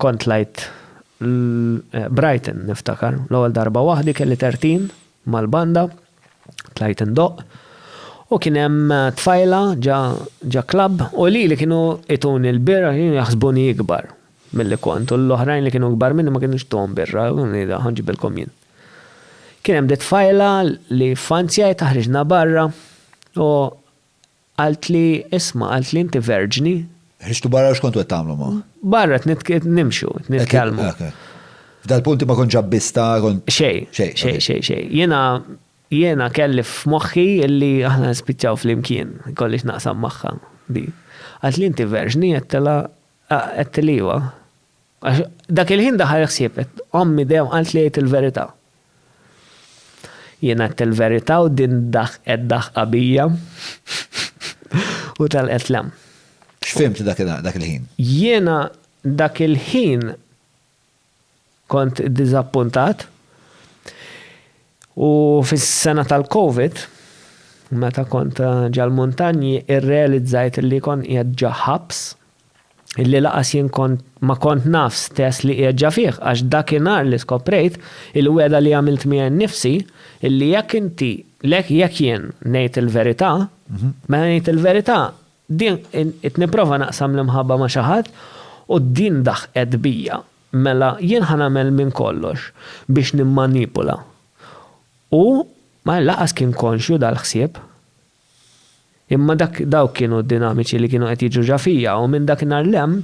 Kont tlajt Brighton niftakar, l-ewwel darba waħdi kelli tertin mal-banda, tlajt indoqq u kien hemm tfajla ġa klabb u lili kienu ituni l-birra kienu jaħsbuni ikbar milli kont u l-oħrajn li kienu ikbar minni ma kinux tuhom birra u ngħidha ħa nġibilkom jien. Kien hemm di tfajla li f'anzjajtha ħriġna barra u Qaltli, Isma', qaltli, inti verġni? Ħriġtu barra u x'kontu qed tagħmlu ma'? Barra qed nimxu, qed nitkellmu. F'dal-punt inti ma kontx abbista, kont. Xejn, xejn, xejn, xejn, xejn. Jiena, jiena kelli f'moħħi li aħna nispiċċaw flimkien, ikolli x'naqsam magħha, di. Qaltli, Inti verġni? Għedtilha, għedtili iva. Għax dak il-ħin daħal ħsieb, ommi dejjem qaltli għid il-verità. Jien għedt il-verità u din daħqet daħqa bija u telqet 'l hemm. X'fhimt dak il-ħin? Jiena dak il-ħin kont diżappuntat u fis-sena tal-Covid, meta kont ġal-muntanji, irrealizzajt li kont qiegħed ġo ħabs. illi laqas jien kont ma kont naf stess li qiegħed ġa fih għax dakinhar li skoprejt il-wegħda li għamilt miegħi nnifsi illi jekk inti jekk jien ngħid il-verità mela ngħid il-verità din qed nipprova naqsam l-imħabba ma' xi ħadd u din daħqet bija mela jien ħa nagħmel minn kollox biex nimmanipula. Hu ma laqas kien konxju dal-ħsieb. Imma dak, dawk kienu d-dinamiċi li kienu qed jiġru ġa fija u minn dak in-nhar 'l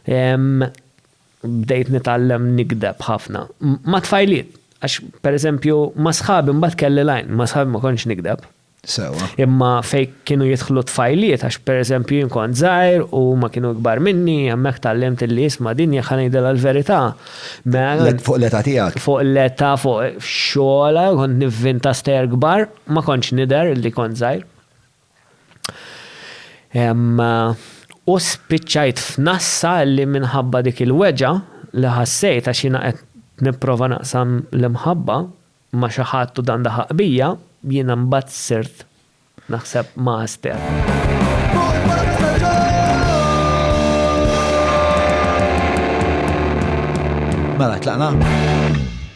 hemm, bdejt nitgħallem nigdeb ħafna. Mat-tfajliet, għax per eżempju ma' sħabi mbagħad kelli l-għajn, ma' sħabi ma kontx nigdeb. Sewwa. Imma fejn kienu jidħlu t-tfajliet, għax per eżempju jien kont żgħir u huma kienu ikbar minni, hemmhekk tgħallimt illi isma' din jekk ħa ngħidilha l-verità, mela. Fuq l-età tiegħek. Fuq l-età, fuq xogħol, kont nivvinta stejjer kbar. Ma kontx nidher li kont żgħir. U spiċċajt f'nassa li minħabba dik il-weġgħa li ħassejt għax jiena qed nipprova naqsam l-imħabba ma' xi ħadd u dan daħaq bija, jiena mbagħad sirt naħseb ma' Aster. Mela, tlaqna?